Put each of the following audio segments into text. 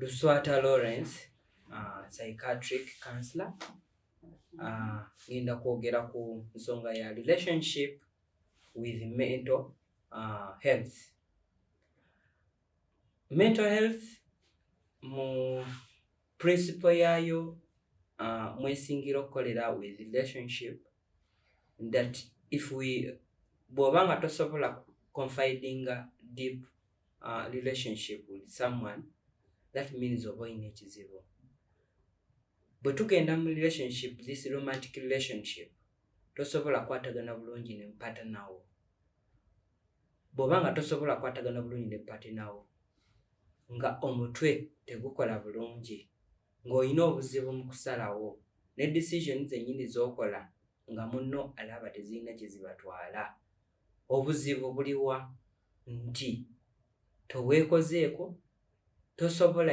Luswata Lawrence uh, psychiatric counselor uh, ngenda kwogera ku nsonga ya relationship with mental uh, health mental health mu principle yaayo uh, mwesingira okukolera with relationship that if we bw'oba nga tosobola confidinga deep uh, relationship with someone that means oba olina ekizibu bwe tugenda mu relationship this romantic relationship tosobola kwatagana bulungi ne mpata nawo bw'oba nga tosobola kwatagana bulungi ne mpata nawo nga omutwe tegukola bulungi ng'olina obuzibu mu kusalawo ne decision zennyini z'okola nga munno alaba tezirina kye zibatwala Obuzibu buliwa nti toweekozeeko, tosobola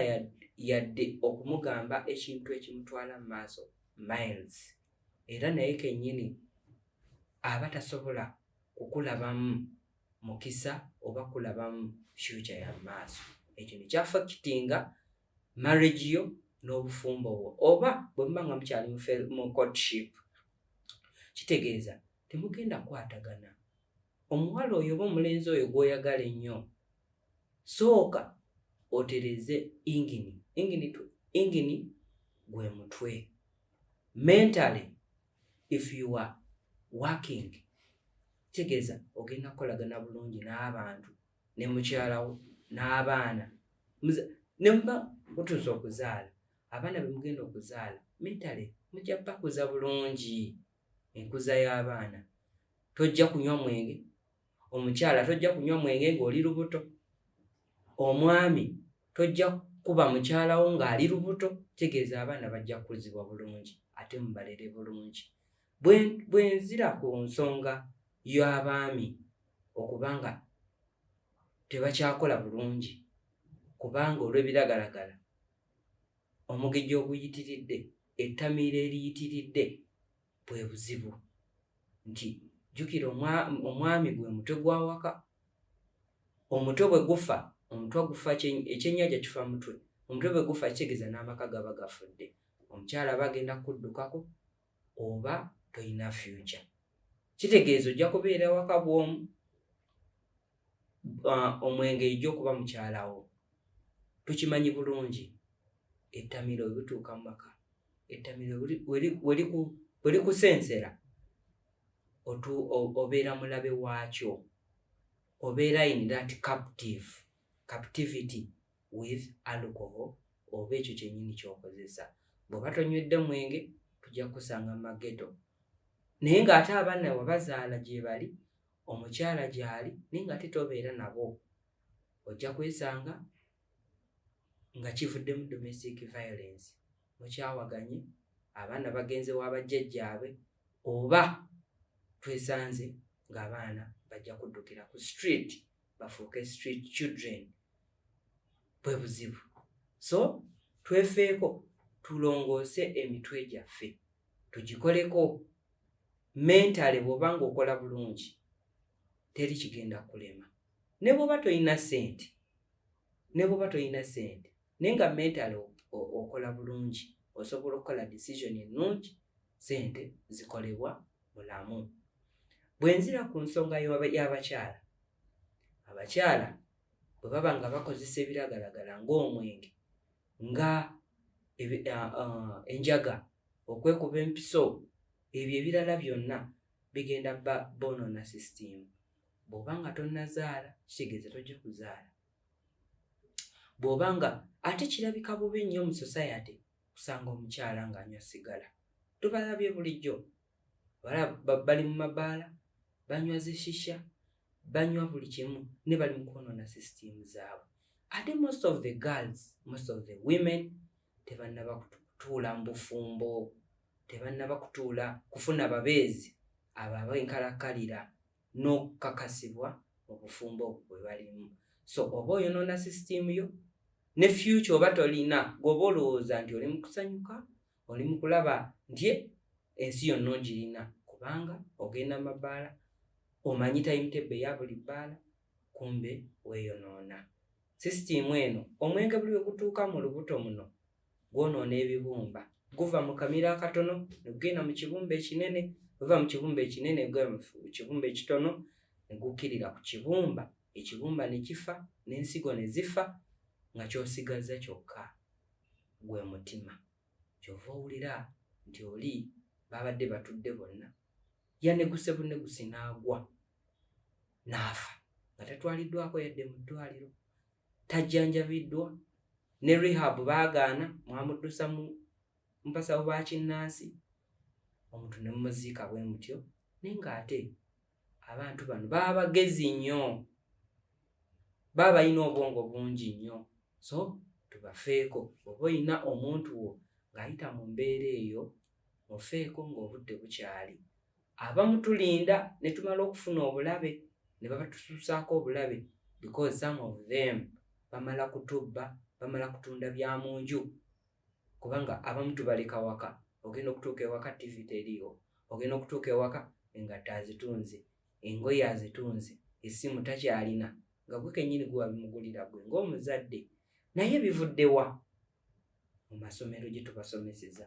yadde okumugamba ekintu ekimutwala mu maaso miles era naye kennyini aba tasobola kukulabamu mukisa oba kulabamu future ya maaso ekyo nekyafakitinga marriage yo n'obufumbo bwo oba bwe muba nga mukyali mu courtship kitegeeza temugenda kukwatagana. Omuwala oyo oba omulenzi oyo gw'oyagala ennyo, sooka otereeze ingini. Ingini, ingini gwe mutwe. Mentally if you are working, kitegeeza ogenda kukolagana bulungi n'abantu ne mukyala wo n'abaana ne muba mutuuse okuzaala abaana be mugenda okuzaala mentally mujja bakuza bulungi. enkuza y'abaana tojja kunywa mwenge omukyala tojja kunywa mwenge ng'oli lubuto omwami tojja kuba mukyalawo ng'ali lubuto tegeeza abaana bajja kukuzibwa bulungi ate mubalere bulungi bwe nzira ku nsonga y'abaami okuba nga tebakyakola bulungi kubanga olw'ebiragalagala Omugejjo oguyitiridde, ettamiiro eriyitiridde bwe buzibu nti jjukira omwami gwe mutwe gw'awaka omutwe bwe gufa omutwe gufa ekyennyanja kifa mutwe omutwe bwe gufa kitegeeza n'amaka gaba gafudde omukyala aba agenda kukuddukako oba tolina fyuca kitegeeza ojja kubeera waka bw'omu uh, omwenge ija okuba mukyalawo tukimanyi bulungi ettamiro webituuka mu maka ettamiro welikusensera obeera mulabe waakyo obeera in that captive captivity with alcohol oba ekyo kyenyini kyokozesa bweoba tonywedde mwenge tujja kukusanga mu mageto naye ng'ate abaana webazaala gyebali omukyala gyali naye nga ate tobeera nabo ojja kwesanga nga kivuddemu domestic violence mukyawaganye abaana bagenze wa bajjajjaabe oba twesanze ng'abaana bajja kuddukira ku street bafuuke street children bwe buzibu so twefeeko tulongoose emitwe gyaffe tugikoleko mentale bwoba nga okola bulungi teri kigenda kulema ne bwoba tolina sente ne bwoba tolina sente naye nga mentale okola bulungi osobola okukola decision ennungi sente zikolebwa bulamu bwenzira ku nsonga y'abakyala abakyala bwe baba nga bakozesa ebiragalagala ng'omwenge nga enjaga okwekuba empiso ebyo ebirala byonna bigenda ba bonona system bwoba nga tonazaala kitegeeza tojja kuzaala bwoba nga ate kirabika bubi nnyo mu society kusanga omukyala ng'anywa sigala tubalabye bulijjo balaba bali mu mabaala banywa zishisha banywa buli kimu ne bali mu kwonoona system zaabwe ate most of the girls most of the women tebannaba kutuula mu bufumbo tebannaba kutuula kufuna babeezi abo abenkalakkalira n'okukakasibwa mu bufumbo obwo bwe balimu so oba oyonoona system yo ne future oba tolina gwoba olowooza nti oli mu kusanyuka oli mu kulaba nti ensi yonna ogirina kubanga ogenda mu mabbaala omanyi tayimutebbe eya buli bbaala kumbe weeyonoona sisitiimu eno omwenge buli we gutuuka mu lubuto muno gwonoona ebibumba guva mu kamiro akatono ne gugenda mu kibumba ekinene guva mu kibumba ekinene gugenda mu kibumba ekitono ne gukkirira ku kibumba ekibumba ne kifa n'ensigo ne zifa nga ky'osigazza kyokka gwe mutima kyova owulira nti oli babadde batudde bonna yaneguse buneguse n'agwa n'afa nga tatwaliddwako yadde mu ddwaliro tajjanjabiddwa ne rehab baagaana mwamuddusa mu mpasawo bakinnansi omuntu ne mumuziika bwe mutyo naye ng'ate abantu bano baba bagezi nnyo baba balina obwongo bungi nnyo so tubafeeko oba olina omuntu wo ng'ayita mu mbeera eyo mufeeko ng'obudde bukyali abamu tulinda ne tumala okufuna obulabe ne babatususaako obulabe because some of them bamala kutubba bamala kutunda bya mu nju kubanga abamu tubaleka waka ogenda okutuuka ewaka tv teriiwo ogenda okutuuka ewaka engatta azitunze engoye azitunze essimu takyalina nga gwe kenyini gwe wabimugulira gwe ngaomuzadde naye bivuddewa mu masomero gye tubasomeseza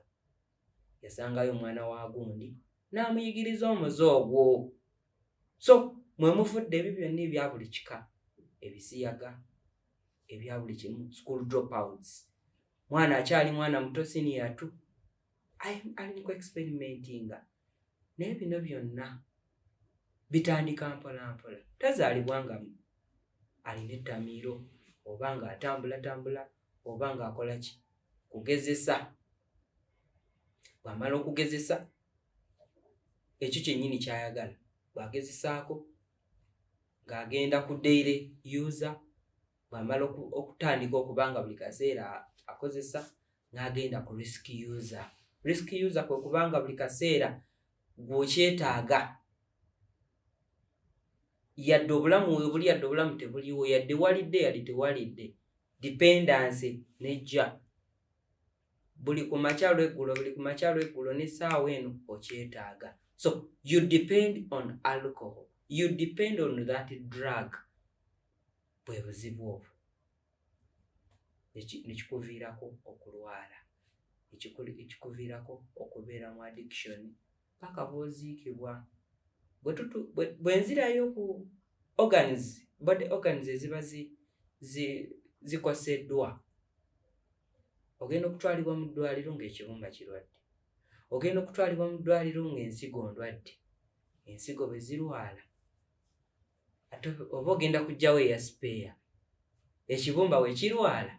yasangayo omwana wa gundi n'amuyigiriza omuze ogwo so mwe muvudde ebyo byonna ebya buli kika ebisiyaga ebya buli kimu school dropouts mwana akyali mwana muto siniya tu ali ku experimentinga naye bino byonna bitandika mpolampola tazaalibwa nga alina ettamiiro oba nga atambulatambula oba nga akola ki kugezesa bwamala okugezesa ekyo kyennyini kyayagala bwagezesaako ng'agenda ku daily user bwamala okutandika okuba nga buli kaseera akozesa n'agenda ku risk user risk user kwe kubanga buli kaseera gwokyetaaga yadde obulamu webuli yadde obulamu tebuliwo yadde walidde yadde tewalidde dependency nejja buli ku makya lweggulo buli ku makya lweggulo n'essaawa eno okyetaaga so you depend on alcohol you depend on that drug bwe buzibu obwo nekikuviirako okulwala ekikuviirako okubeera mu addiction paka bwoziikibwa bwenzirayo ku organs body organs eziba zikoseddwa ogenda okutwalibwa mu ddwaliro ngaekibumba kirwadde ogenda okutwalibwa mu ddwaliro ngaensigo ndwadde ensigo bwezirwala ate oba ogenda kugjawo eya sipeeya ekibumba wekirwala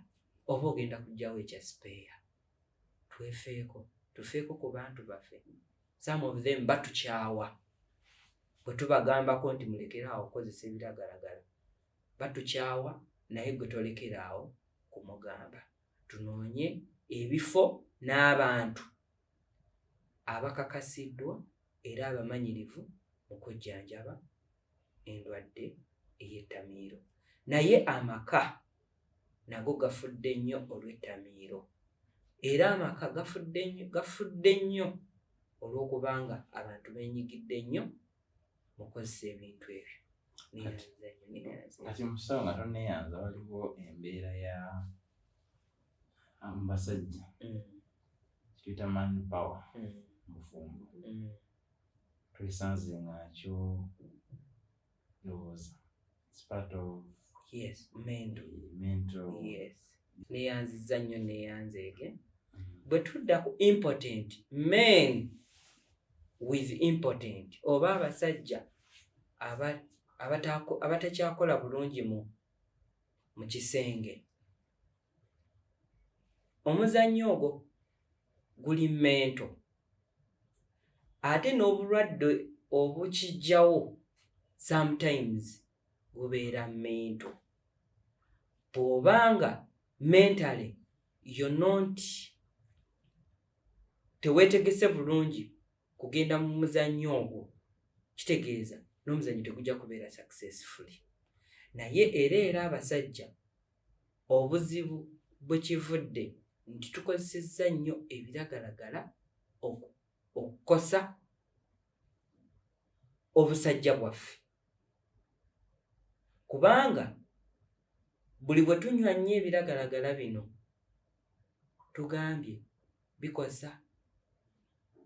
oba ogenda kugjawo ekya sipeeya twefeeko tufeeko ku bantu baffe some of them batukyawa bwe tubagambako nti mulekeraawo okukozesa ebiragalagala batukyawa naye gwe tolekeraawo kumugamba tunoonye ebifo n'abantu abakakasiddwa era abamanyirivu mu kujjanjaba endwadde ey'ettamiiro naye amaka nago gafudde nnyo olw'ettamiiro era amaka gafudde nnyo gafudde nnyo olw'okubanga abantu benyigidde nnyo mukozesa ebintu ebyo kati musawo nga toneyanza waliwo embeera ya basajja mm. kituyita man power mm. mufumbo mm. twesanze ngakyo ndowooza it's part of yes mental eh, mental yes neyanziza nnyo neyanzeege mm-hmm. bwe tudda ku impotent men with impotent oba abasajja abatakyakola bulungi mu mu kisenge omuzannyo ogwo guli mento ate n'obulwadde obukijjawo sometimes bubeera mento bw'oba nga mentally yo not teweetegese bulungi kugenda mu muzannyo ogwo kitegeeza n'omuzannyo tegujja kubeera successfully naye era era abasajja Obuzibu bwe kivudde nti tukozesezza nnyo ebiragalagala okukosa obusajja bwaffe kubanga buli bwe tunywa nnyo ebiragalagala bino tugambye bikosa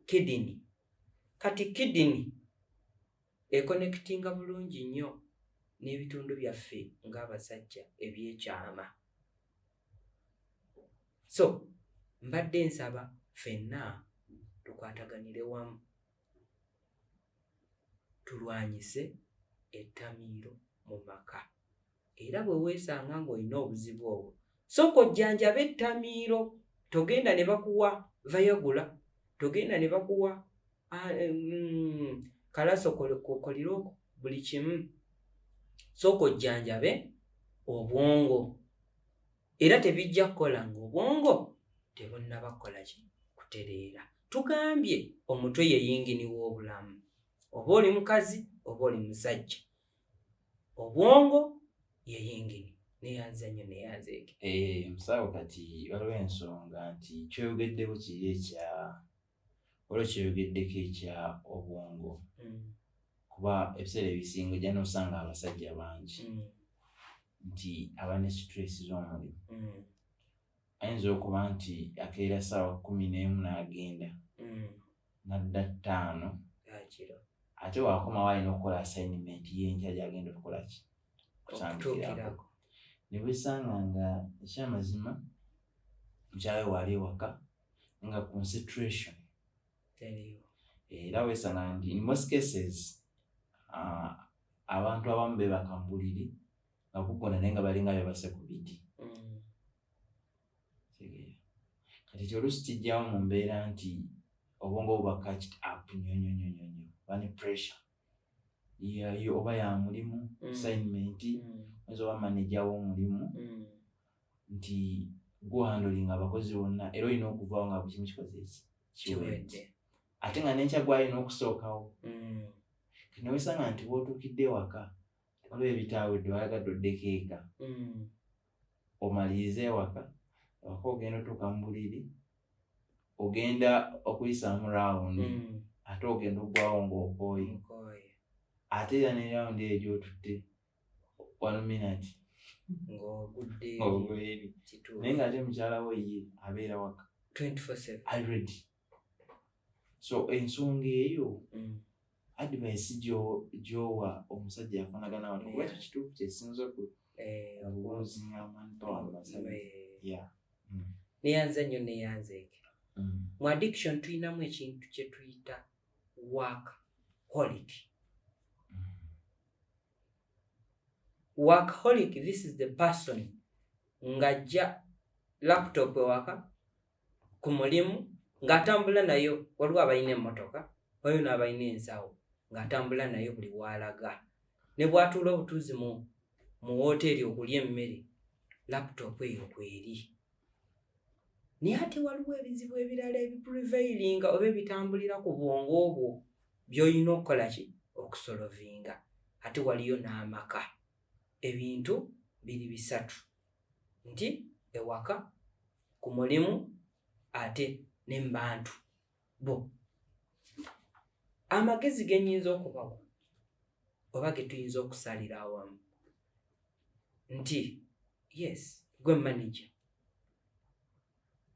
kidini kati kidini Ekonekitinga bulungi nnyo n'ebitundu byaffe ng'abasajja eby'ekyama. So mbadde nsaba fenna tukwataganire wamu tulwanyise ettamiiro mu maka. Era bwe weesanga ng'olina obuzibu obwo, sooka ojjanjabe ettamiiro. Togenda ne bakuwa vayagula, togenda ne bakuwa ah, eh, mm, kalaso kolirooko, buli kimu. Sooka ojjanjabe obwongo. Era tebijja kukola ng'obwongo tebunnaba kukola ki kutereera. Tugambye omutwe ye yingini w'obulamu. Oba oli mukazi, oba oli musajja. obwongo ye yingini neyanza nnyo neyanza eke eh, musawo kati waliwo ensonga nti kyoyogeddeko kiri ekya waliwo kyoyogeddeko ekya obwongo hmm. kuba ebiseera ebisinga ojja nosanga abasajja bangi hmm. nti abane situlesi z'omulimu hmm. ayinza okuba nti akeera saawa kumi n'emu n'agenda mm. nadda ttaano ate wakomawo alina okukola assignment yenkya gyagenda okukolaki kutandikirako nebwesanga nga ekyamazima mukyawe waali ewaka nga concentration era wesanga nti in most cases uh, abantu abamu bebaka mbuliri nga kukona naye nga balinga bebase ku biti mm. kati ekyo oluusi kijjawo mu mbeera nti obwongo buba catched up nyonyonyonyonyo bani pressure yayo oba ya mulimu mm. assignment mm. oyinza oba manaja w'omulimu nti guhandolinga abakozi bonna era olina okuvawo nga buli kimu kikoze kiwedde ate nga nenkya gwalina okusookawo newesanga nti wotuukidde ewaka waliwo ebitaawe dde wayagadde oddeko eka mm. omaliriza ewaka ewaka ogenda otuuka mu buliri ogenda okuyisaamu rawundi mm. ate ogenda oggwawo ng'okooye ate era ne rawundi eyo gyotutte one minute ng'ogudde eri naye ng'ate mukyala wo ye abeera waka already so ensonga eyo mm. advice gyowa omusajja afanagana wano kuba ekyo kituufu kyesinza neyanze nnyo neyanzeeke mu addiction tulinamu ekintu kyetuyita work holic workaholic this is the person ng'ajja laptop ewaka ku mulimu ng'atambula nayo waliwo abalina emmotoka waliwo n'abalina ensawo ng'atambula nayo buli waalaga ne bwatuula obutuuzi mu mu wooteeri okulya emmere laputopu eyo kweri naye ate waliwo ebizibu ebirala ebipuriveiringa oba ebitambulira ku bwongo obwo by'olina okukola ki okusolovinga ate waliyo n'amaka ebintu biri bisatu nti ewaka ku mulimu ate ne mu bantu bo amagezi ge nnyinza okubawa oba ge tuyinza okusalira awamu nti yes gwe manaja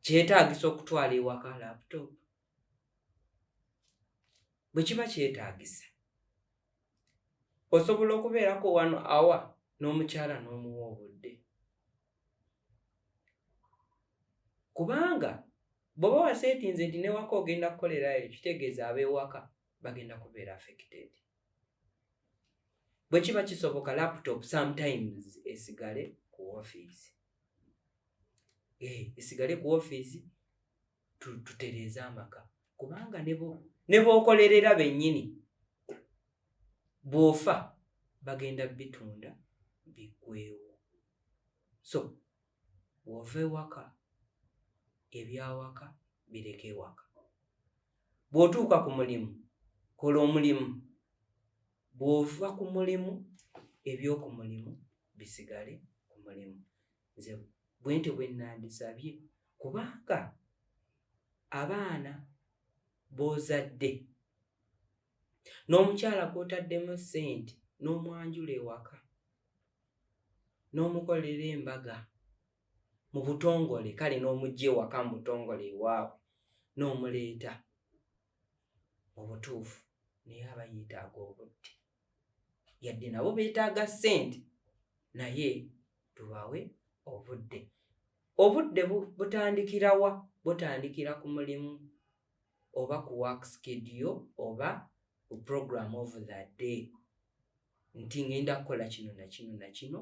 kyetaagisa okutwala ewaka laptop bwe kiba kyetaagisa osobola okubeerako wano awa n'omukyala n'omuwa obudde kubanga bw'oba waseetinze nti newaka ogenda kukolerayo kitegeeza ab'ewaka bagenda kubeera affected bwe kiba kisoboka laptop sometimes esigale ku ofiisi eh, esigale ku ofiisi tutereeze amaka kubanga ne bookolerera bennyini bw'ofa bagenda bitunda biggwewo so wova ewaka ebyawaka bireka ewaka bw'otuuka ku mulimu kola omulimu bw'ova ku mulimu eby'oku mulimu bisigale ku mulimu nze bwentyo bwenandisabye kubanga abaana bozadde n'omukyala gwotaddemu sente n'omwanjula ewaka n'omukolera embaga mu butongole kale n'omugya ewaka mu butongole ewaabwe n'omuleeta obutuufu naye aba yeetaaga obudde yadde nabo beetaaga ssente naye tubawe obudde obudde butandikirawa butandikira ku mulimu oba ku work skedio oba ku program of the day nti ngenda kukola kino nakino nakino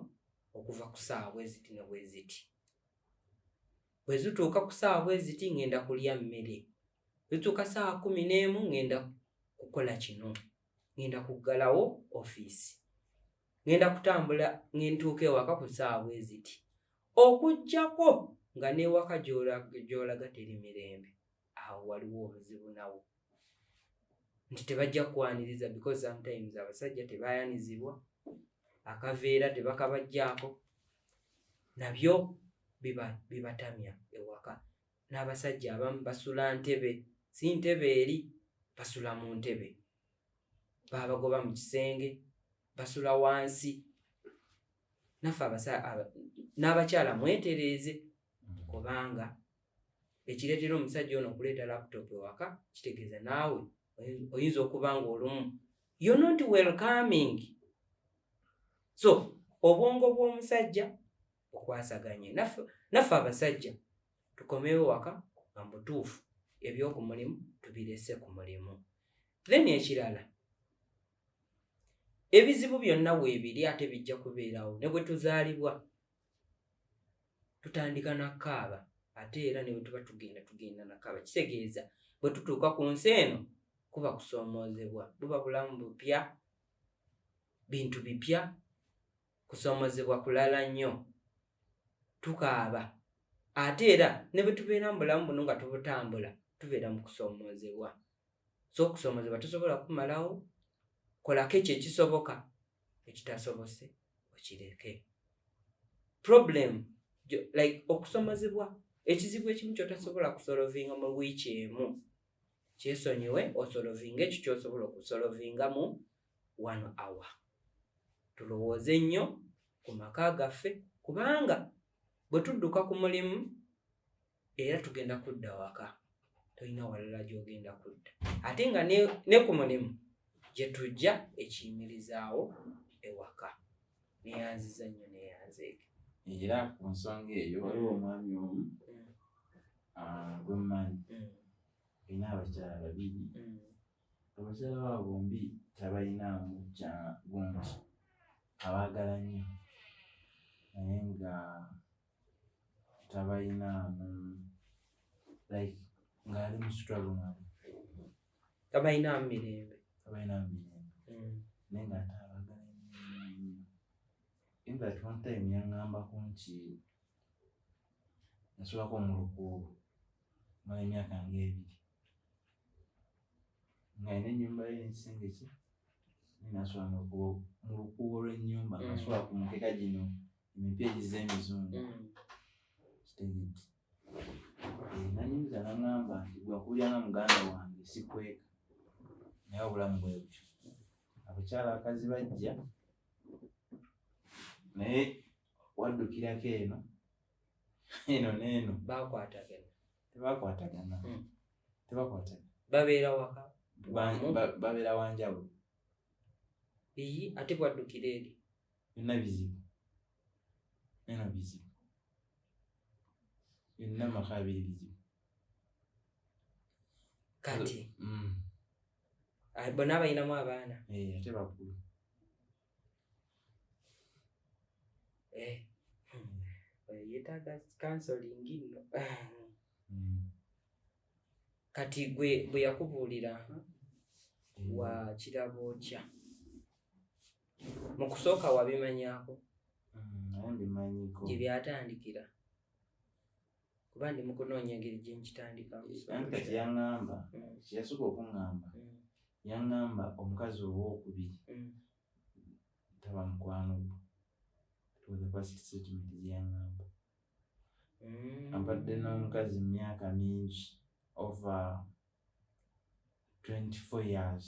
okuva ku saawa bweziti ne bweziti bwe zituuka ku saawa bweziti ngenda kulya mmere zituuka saawa kumi n'emu ngenda kukola kino ngenda kuggalawo ofiisi ngenda kutambula ngentuuka ewaka ku ssaawa bwe ziti okuggyako nga n'ewaka gy'olaga teri mirembe awo waliwo obuzibu nawo nti tebajja kukwaniriza because sometimes abasajja tebayanizibwa akaveera tebakabajjaako nabyo bibatamya ewaka n'abasajja abamu basula ntebe si ntebe eri basula mu ntebe baabagoba mu kisenge basula wansi naffe n'abakyala mwetereeze kubanga ekireetera omusajja ono okuleeta laptop ewaka kitegeeza naawe oyinza okuba nga olumu yo not welcoming so obwongo bw'omusajja okwasaganye naffe abasajja tukomewo waka nga mubutuufu ebyoku mulimu tubirese ku mulimu then ekirala ebizibu byonna weebiri ate bijja kubeerawo ne bwe tuzaalibwa tutandika nakaaba ate era ne bwe tuba tugenda tugenda nakaaba kitegeeza bwe tutuuka ku nsi eno kuba kusoomoozebwa buba bulamu bupya bintu bipya kusoomozebwa kulala nnyo tukaaba ate era ne bwe tubeera mu bulamu buno nga tubutambula tubeera mu kusoomoozebwa so okusoomoozebwa tusobola kumalawo kolako ekyo ekisoboka ekitasobose okireke problem like okusomozebwa ekizibu ekimu kyotasobola kusolovinga mu wiiki emu kyesonyiwe osolovinga ekyo kyosobola okusolovinga mu one hour tulowooze nnyo ku maka gaffe kubanga bwe tudduka ku mulimu era tugenda kudda waka tolina walala gy'ogenda kudda ate nga ne ku mulimu gye tujja ekiyimirizaawo ewaka neyanziza nnyo neyanzeege era ku nsonga eyo waliwo omwami omu mm. ah, gwemumanyi mm. olina abakyala babiri mm. abakyala babo bombi tabalinaamu kya gungi abaagala nnyo naye nga tabalinaamu like ng'ali mu struggle nabo tabalinaamu mirembe tabalinaamu mirembe mm. naye nga taabagala nnyo in that one time yangambako nti nsulako omulukuubu mala emyaka nga ebiri nga ina enyumba ye nekisenge kye ninasula mu lukuubo lwenyumba mm. nasula ku mukeka gino emipya egiza emizungu mm. kitegedde eh, nanyumiza nangamba nti gwakuulira nga muganda wange sikweka naye obulamu bwe butyo abakyala akazi bajja naye waddukirako eno eno neeno bakwatagana tebakwatagana hmm. tebakwatagana babeera waka babeera wanjawulo eyi ate bwaddukira eri byonna bizibu eno bizibu byonna maka abiri bizibu kati hmm. bona abalinamu abaana eh, ate bakulu Eh. Hmm. yetaaga kansolingi nno hmm. kati gwe bwe yakubuulira hmm. wa kirabo kya mu kusooka wabimanyako gye byatandikira kuba ndi mukunoonya engeri gyenkitandikankati yaŋamba mm. kyeyasooka okuŋamba mm. yaŋamba omukazi owokubiri mm. taba mukwano gwo twathepastsitment gyeyaŋamba abadde n'omukazi mu myaka mingi over 24 years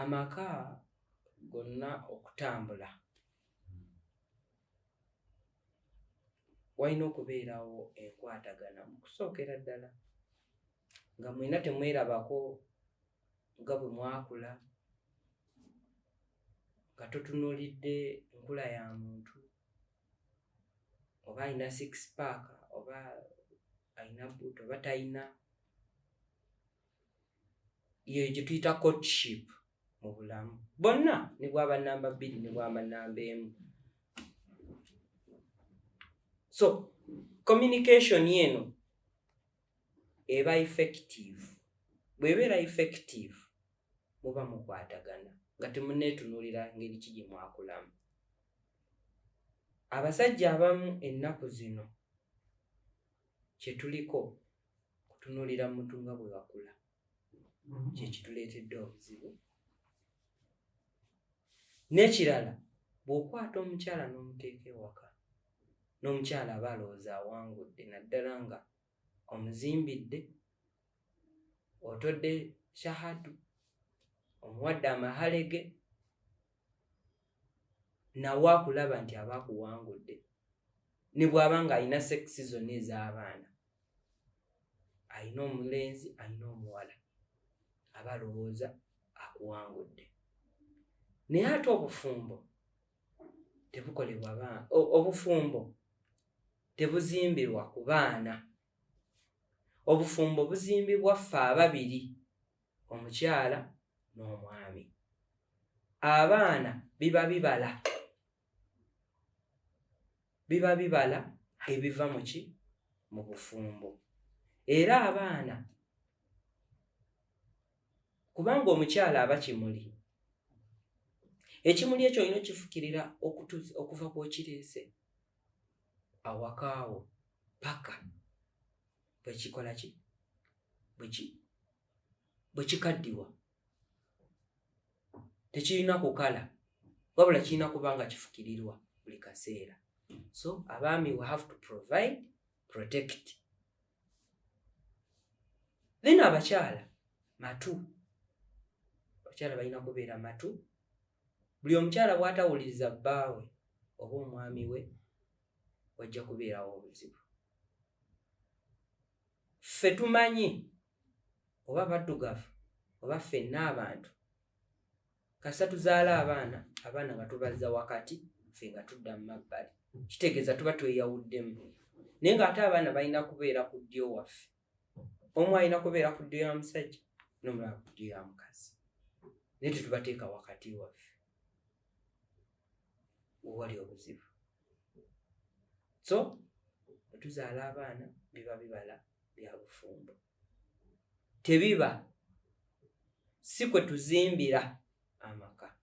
amaka gonna okutambula walina okubeerawo enkwatagana mu kusookera ddala nga mwena temwerabako nga bwe mwakula nga totunuulidde nkula ya muntu oba alina six paaka oba alina buuti oba talina yeyo gyetuyita courtship mu bulamu bonna ne bwaba namba bbiri ne bwaba namba emu so communication eno eba effective bwebeera effective muba mukwatagana nga temuneetunuulira ngeri ki gye mwakulamu abasajja abamu ennaku zino kyetuliko kutunulira muntu nga bwe bakula kyekituleetedde obuzibu n'ekirala bw'okwata omukyala n'omuteeka ewaka n'omukyala aba alowooza awangudde naddala nga omuzimbidde otodde shahadu omuwadde amahalege nawe akulaba nti aba akuwangudde ne bwaba ng'alina sekisi zonna ez'abaana alina omulenzi alina omuwala aba alowooza akuwangudde naye ate obufumbo tebukolebwa baana obufumbo tebuzimbirwa ku baana obufumbo buzimbibwa ffe ababiri omukyala n'omwami abaana biba bibala biba bibala ebiva mu ki mu bufumbo era abaana kubanga omukyala aba kimuli ekimuli ekyo olina okifukirira okuva kwokireese awakaawo paka bwe kikola ki bwe kikaddiwa tekirina kukala wabula kirina kuba nga kifukirirwa buli kaseera so abaami we have to provide protect then abakyala matu abakyala balina kubeera matu buli omukyala bwatawuliriza bbaawe oba omwami we wajja kubeerawo obuzibu ffe tumanyi oba baddugavu oba ffenna abantu kasita tuzaala abaana abaana batubazza wakati ffe nga tudda mu mabbali kitegeeza tuba tweyawuddemu naye ng'ate abaana balina kubeera ku ddyo waffe omu alina kubeera ku ddyo ya musajja nomulaba ku ddyo ya mukazi naye tetubateeka wakati waffe wewali obuzibu so otuzaala abaana biba bibala bya bufumbo tebiba si kwe tuzimbira amaka